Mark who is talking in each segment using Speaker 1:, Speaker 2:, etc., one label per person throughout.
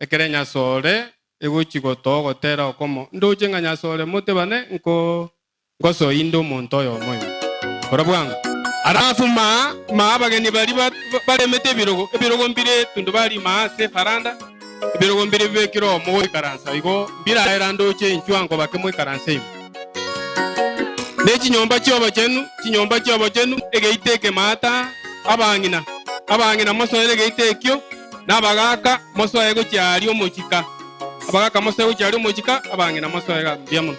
Speaker 1: Ekero enyasore egochia gotoa ogotera okomo, ndoche ng'a nyasore motebane nko ngosoe inde omonto oyo omoime. Kora bwango. Arafuma maa abageni baria baremete ebirogo, ebirogo mbire etundu barima aase efaranda, ebirogo mbire bibekire oo mogoikaransa, igo mbiraera ndoche inchwa nkobake moikaranse ime. Ne chinyomba chi'obochenu, chinyomba chi'obochenu, egeita ekemo ata abang'ina, abang'ina mosoere egeita ekio. Nabagaaka mosoe gochia aria omochika, abagaaka mosoe gochia aria omochika, abang'ina mosoe gaka. Mbuya mono.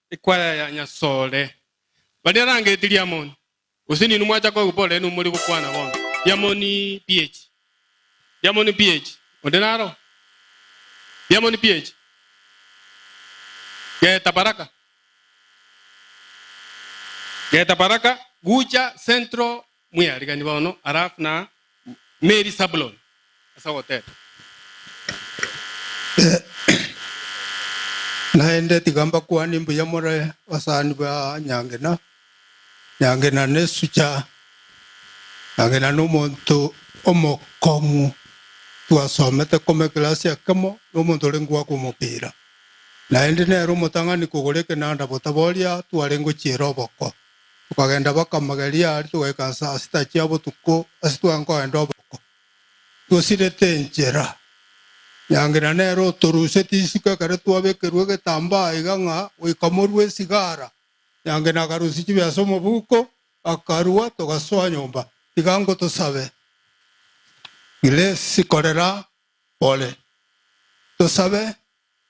Speaker 1: Ekwaya ya Nyasore. Baria rangeti riamoni, gose ninwe mwacha koigwa bore ninwe mori gokwana bono. Riamoni PH. Riamoni PH. Onde naro? Riamoni PH. Geta Baraka. Geta Baraka, Gucha, Central, Mwearigani bono Arafu na Meri Sabuloni ase ogoteta. Naende tiga mbakwane mbuya more basani ba Nyangena. Nyangena nesucha, Nyangena nomonto omokong'u twasomete koma eklasi ekemo nomonto orenge goaka omopira. Naende nere omotang'ani kogora ekenanda botaboria twarenge gochiera oboko. Tokagenda baka mageria aria, togaika ase asita chia botuko, ase tware nkogenda oboko, twosirete enchera. Nyangina nere otoruseti isiko ekero twabekerwe egetambaa iga ng'a goika morue esigara. Nyangina akarusia chibea ase omobuko, akarua, togasoa nyomba. Tiga ngotosabe, Grace, korera pore, tosabe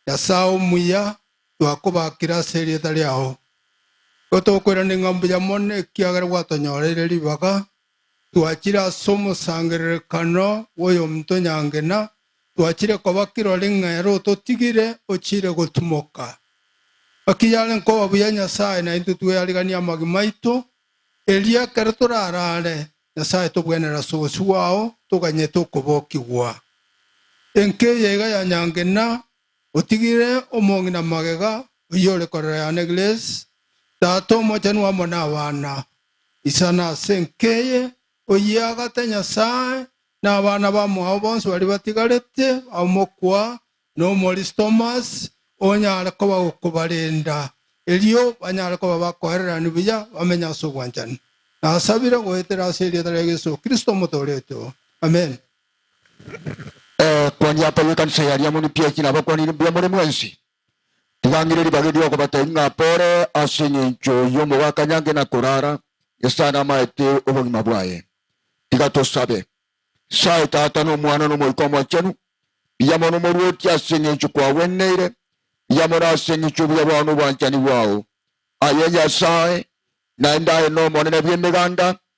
Speaker 1: Nyasae omuya twakobaakire ase erieta riao. Nigo tokoirana ng'a mbuya mono ekiagera gwatonyoreire ribaga, twachire ase omosangererekano bw'oyominto nyange, na twachire koba kirori ng'a ere ototigire ochiire gotimoka. Naki yare nkoba buya Nyasae naintwe tweyariganie amagima aito, erio ekero toraraare, Nyasae tobwenerere ase obosio bwao, toganyete okobokigwa. Enka eyaiga ya nyange na Otigire omong'ina magega, oyore korera yane Grace, tata omochenu amo nabana. Isana ase enka eye, oyiagate Nyasae, nabana bamwao bonsi baria batigarete bamokwa, nomorisia Thomas onyare koba gokobarenda, erio banyare koba bakoererania buya, bamenye ase obwanchani. Nasabire goetera ase erieta ria Yeso Kristo omotooretwe. Amen. Ekwani ya Paulo ekanisa ya Diamoni pi eki nabakwanire mbuya more mwensi? Tiga ng'ire ribaga erio okobateebia ng'a pore ase engencho y'omobakanyange na korara esano namaete obogima bwaye. Tiga tosabe. Sae Tata na Omwana na Omoika Omochenu, mbuya mono omorwoti ase engencho kwagweneire, mbuya mono ase engencho y'obuya bwao na obwanchani bwao. Aye Nyasae, naende aye n'Omonene bw'Emeganda,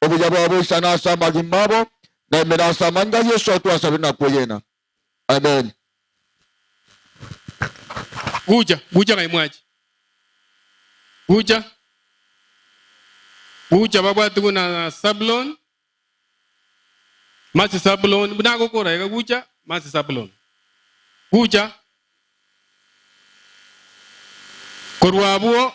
Speaker 1: obuya bwabo isana ase amagima abo, na emera ase amange a Yeso twasabire na kweyiena. Amen. Gucha, gucha ng'ai mwachi? Gucha, gucha babwati buna Sabuloni, masi Sabuloni, buna agokora iga, gucha, masi Sabuloni. Gucha, korwa abwo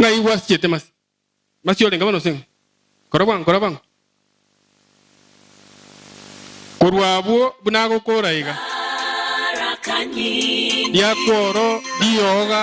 Speaker 1: Ng'ai gwasichete masi? Masi orenge bono ase ng'a kora bwango, kora bwango. Korwa abwo buna agokora iga, riakworo rioga.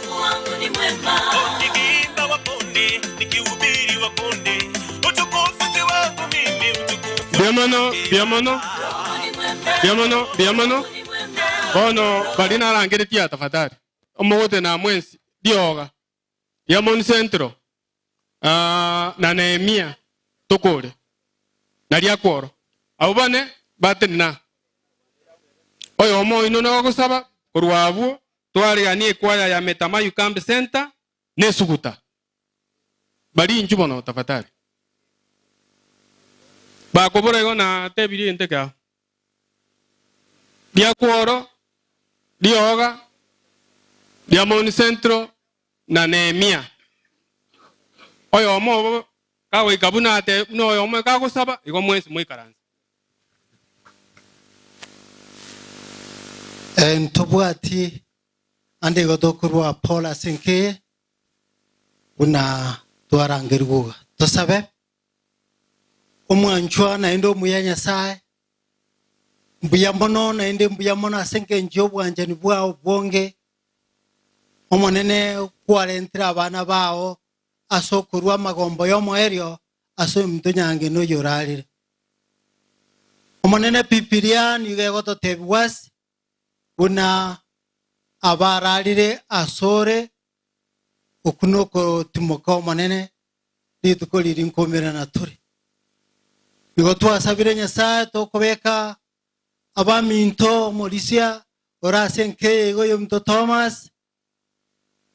Speaker 1: Mbuya mono, mbuya mono, mbuya mono, mbuya mono. Bono baria narangeretie aa tafadhali. Omogote na mwensi. Rioga. Diamond Central. Ah, na Nehemia. Tokore. Na riakworo. Abwo bane, batiri na. Oyomo oino nogosaba korwa abwo Twaregania ekwaya ya Metamayu Camp Centre na esuguta. Bari inchu mono tafatari. Bakobora igo na tebirie egento eke ao. Ria Kworo, rioga, ria Mount Central na Nehemia. Oyomo obo kagoika buna atebe, buna oyomo ekagosaba, igo mwensi moikaranse. Eh, ntobwati ande igo tokorua Paul ase enkeye buna twarangerigwe iga. Tosabe omwanchwa naende omuya Nyasae mbuya mono naende mbuya mono ase engencho y'obwanchani bwao bwonge Omonene kwarentire abana bao ase okorua amagombo y'omoerio ase omonto nyange noyio orarire. Omonene Bibilia nigo egototebigwa ase buna abararire asore oku nokotimoka omonene rituko riri nkomera na tore. Nigo twasabire Nyasaye tokobeka abaminto omorisia ore ase enkeye igo yominto Thomas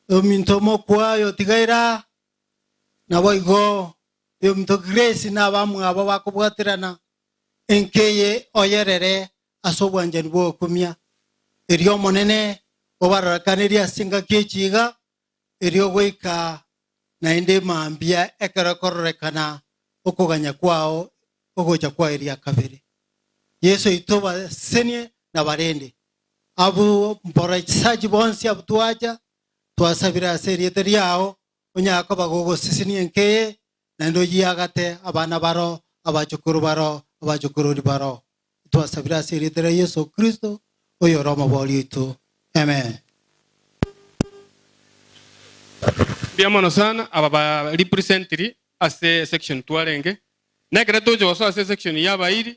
Speaker 1: Ominto omokwaye otigaire aa, naboigo ominto Grace na abamwabo bakobwaterana enka eye oyerere ase obwanchani bw'okumia. Erio Omonene obarorokanerie ase engaki ye chiiga erio goika naende mambia ekero ekororekana okoganya kwao ogocha kwa eria kabere. Yeso oito obasesenie nabarende. Abwo mbora chisachi bonsi abwo twacha, twasabire ase erieta riao, onyare koba gogosesenia enka eye, naende oyiagate abana baro, abachokoro baro, abachokorori baro. Twasabire ase erieta ria Yeso Kristo, oyore Omobori oito. Amen. Mbuya mono sana aba ba representiri ase section twarenge. Nekere toche gosoa ase section y'abairi,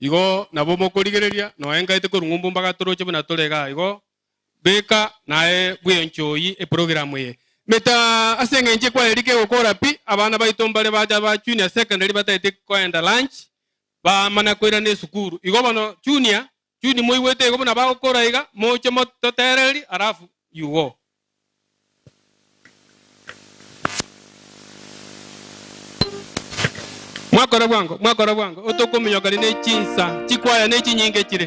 Speaker 1: Igo nabo mokorigereria noe ngaete korwa ng'umbu mbagatoroche buna tore igaa igo. Beka naye bw'enchwa oyie eprogram eye. Meta ase eng'encho ekwaya rika egokora pi, abana baito mbare bacha ba junior secondary batagete koenda lunch bamana koirana esukuru. Igo bono junior, juni moigwete igo buna bagokora iga moche mo totereri alafu you go. Mwakora bwango, mwakora bwango, otokominyoka rende chinsa chikwaya ne chinyinge chire.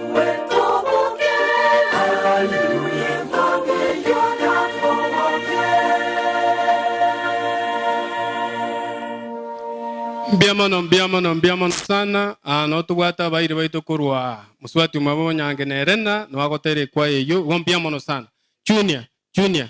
Speaker 1: Mbuya mono, mbuya mono, mbuya mono sana. Ah, nabo tobwate abairi baito korwa mosubati omwabo Onyange na Elena, nabo agotera ekwaya eyio. Igo mbuya mono sana. Junior, Junior,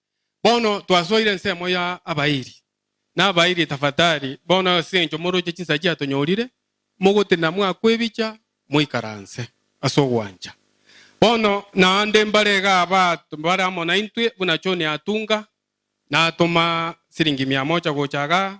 Speaker 1: Bono twasoire ensemo ya abairi na abairi tafatari bono ase engencho moroche chinsa chiatonyorire, mogotenena mwakwebicha moikaranse ase ogwancha. Bono naende mbare iga aba bare amo naintwe buna John atunga natoma siringi mia moja gocha igaa.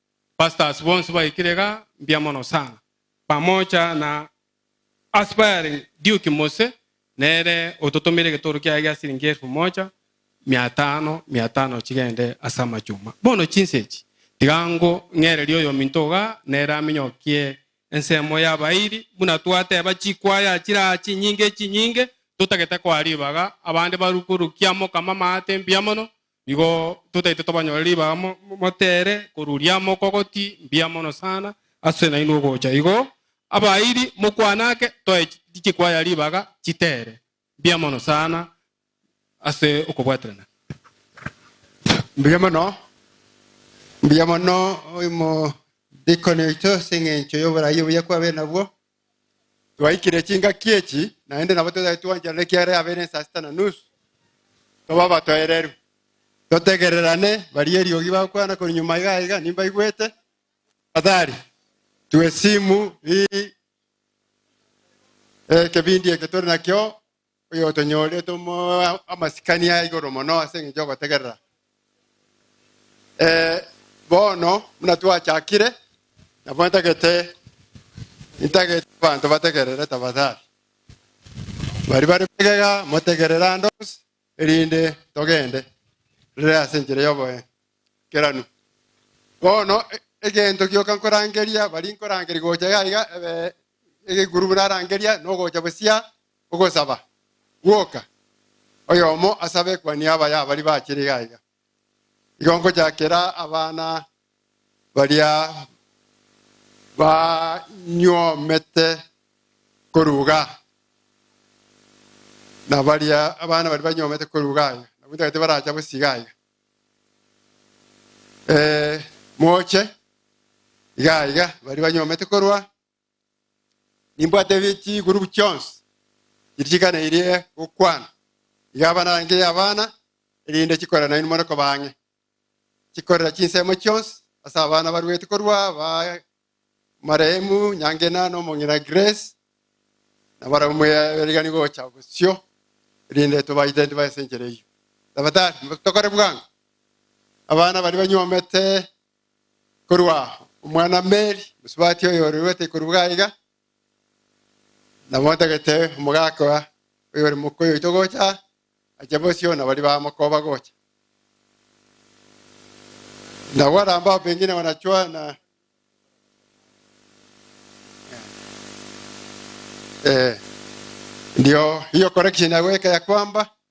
Speaker 1: Pastors bonsi baikire iga, mbuya mono sana. Pamoja na Aspiring Duke Mose, nere ototomeire getoru kiaye gia siringi elfu moja, mia tano, mia tano chigende ase amachuma. Bono chinsa echi, tiga ngo ng'ererie oyominto iga, nere aminyokie ensemo y'abairi, buna twateba chikwaya chiraa chinyinge chinyinge, totagete koa ribaga, abande barukurukia Omokama amaate, mbuya mono, Nigo totaete tobanyore ribaga motere koruria amo okogoti mbuya mono sana ase nainwe ogocha igo abairi mokwane ake toe chikwaya ribaga chitere mbuya mono sana ase okobwaterana mbuya mono mbuya mono oimo dikoni oito ase engencho yoborai obuya kwabe nabwo Twaikire chingaki echi, naende nabo totari twancherana ekiagera yabeire ensaa sita na nusu, toba abatoereru, totegererane baria eriogi bagokwana korwa nyuma iga iga, nimbaigwete. Tafadhali tue esimu hii eh, kebindi eke tore nakio oyotonyorete omo- amasikani a igoro mono ase engencho y'ogotegerera. Eh, bono buna twachakire, nabo ntagete ntagete abanto bategerere tafadhali. Bari bare magega motegerere ande onsi, erinde togende rere ase enchera y'oboengeranu. Bono e- egento gioka nkorangeria, bari nkorangeria gocha iga iga, eh, egeguru buna arangeria, nogocha bosia ogosaba, gwoka, oyomo as'abekuani abaya abari bachire iga iga. Igo ngochakera abana baria banyuomete koruga nabaria abana baria banyuomete koruga iga, nabu ntagete baracha bosi iga iga. Eh, moche iga iga, baria banyuomete korwa Nimbwate chigurubu chionsi chitigana irie gokwana, iga abana bange abana, erinde chikorera nainwe more koba ang'e. Chikorera chinsemo chionsi ase abana baruete korwa aba omarehemu Nyangena na omong'ina Grace, na barabwo mwerigani gocha bosio, erinde tobaite ntiba ase enchera eyio. Tafadhali tokore bwango, abana baria banyuomete Korwa aa, omwana Meri, omosubati oyore goeta ikoru bwa iga, nabontagete omogaka oyore mokuya oito gocha aa, ache bosio na baria bamokoba gocha. Na gwaramba ao pengine wanachwa na eh, ndio hiyo correction ya goika ya kwamba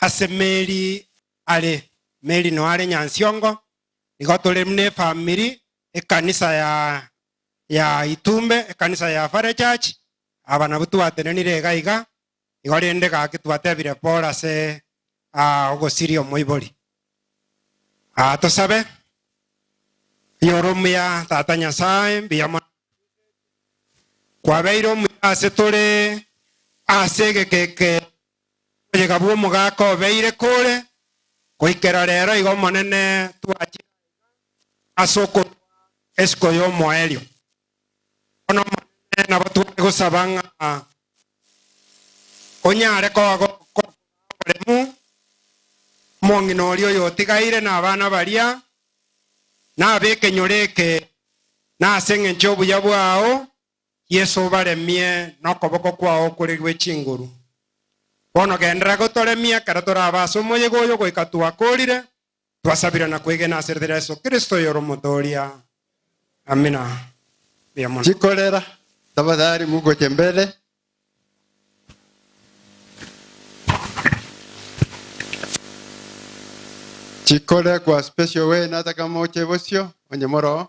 Speaker 1: ase Meri are. Meri noare Nyansiongo, igo tore buna efamiri, ekanisa ya ya Itumbe, ekanisa ya Fare Church, aba nabwo twatenenire iga iga, igo rende gaki twatebire Paul ase ah, ogosiria omoibori. Ah, tosabe. Oyore omuya, Tata Nyasae, mbuya mono kwabeire omuya ase tore ase egekeke Oboyega bw'omogaka obeire kore goikera rero iga Omonene twachire aiga ase okorua esiko y'omoerio. Bono Omonene nabo tware gosaba ng'a onyare koa gokora oboremu omong'ina oria oyotigaire na abana baria, na ab'ekenyoro eke, na ase engencho y'obuya bwao Yeso obaremie nokoboko kwao okore gwe chinguru. Bono genderera gotoremia ekero torabe ase omoyega oyo goika twakorire, twasabire na kwegena ase rira Yeso Kristo oyore Omotooria. Amina. Mbuya mono. Chikorera, tafadhali mugoche mbere. Chikore kwa special way nata kama oche bosio, onye moro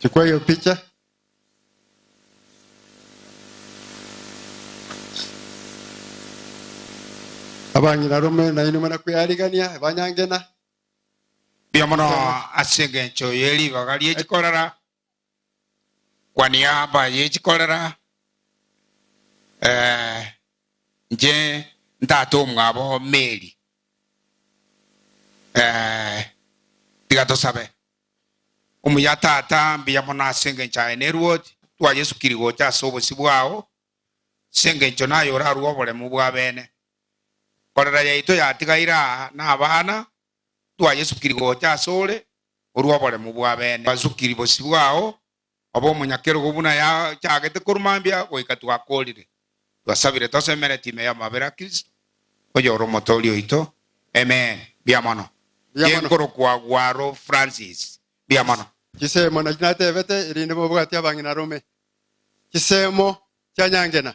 Speaker 1: Chukua hiyo picha. Abang'ina rome na inwe mana kwearigania banyangena. Mbuya mono ase engencho ye ribaga rie chikorara Kwa niaba y'echikorera inche ntata omwabo Mary. Tiga tosabe. Omuya Tata, mbuya mono ase engencho yaye ne Ruoth twa Yesu kiri gocha ase obosio bwao, ase engencho naye orarue oboremu bw'abene. Korera yaito yatigaire aa na abana twayesukiri gocha asore korwa oboremu bw'abene basukiri bosio bwao, obe omonyakerogo buna yachagete korwa mambia goika twakorire. Twasabire tosemereti ime y'amabera a Kristo, oyore Omotoori oito. Amen. Mbuya mono. Mbuya mono. Genkoro kwa Gwaro Francis. Mbuya mono. Chisemo nachi natebete erinde mobwati abang'ina rome chisemo chia nyangena.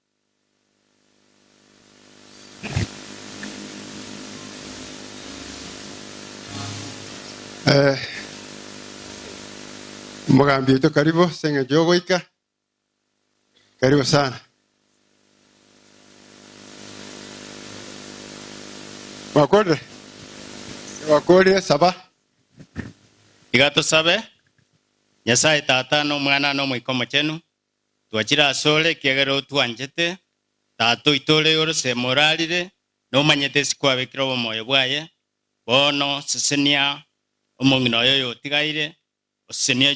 Speaker 1: Eh, Mogambi oito karibu senge jogoika. Karibu sana. Wakorire? Wakorire saba. Iga tosabe. Nyasaye Tata, na Omwana, na Omoika Omochenu, Twachire asore, ekiagera otwanchete. Tata oito ore igoro semo orarire, nomanyete ase kwabekire obomoyo bwaye. Bono sesenia omong'ina oyo oyotigaire, osesenie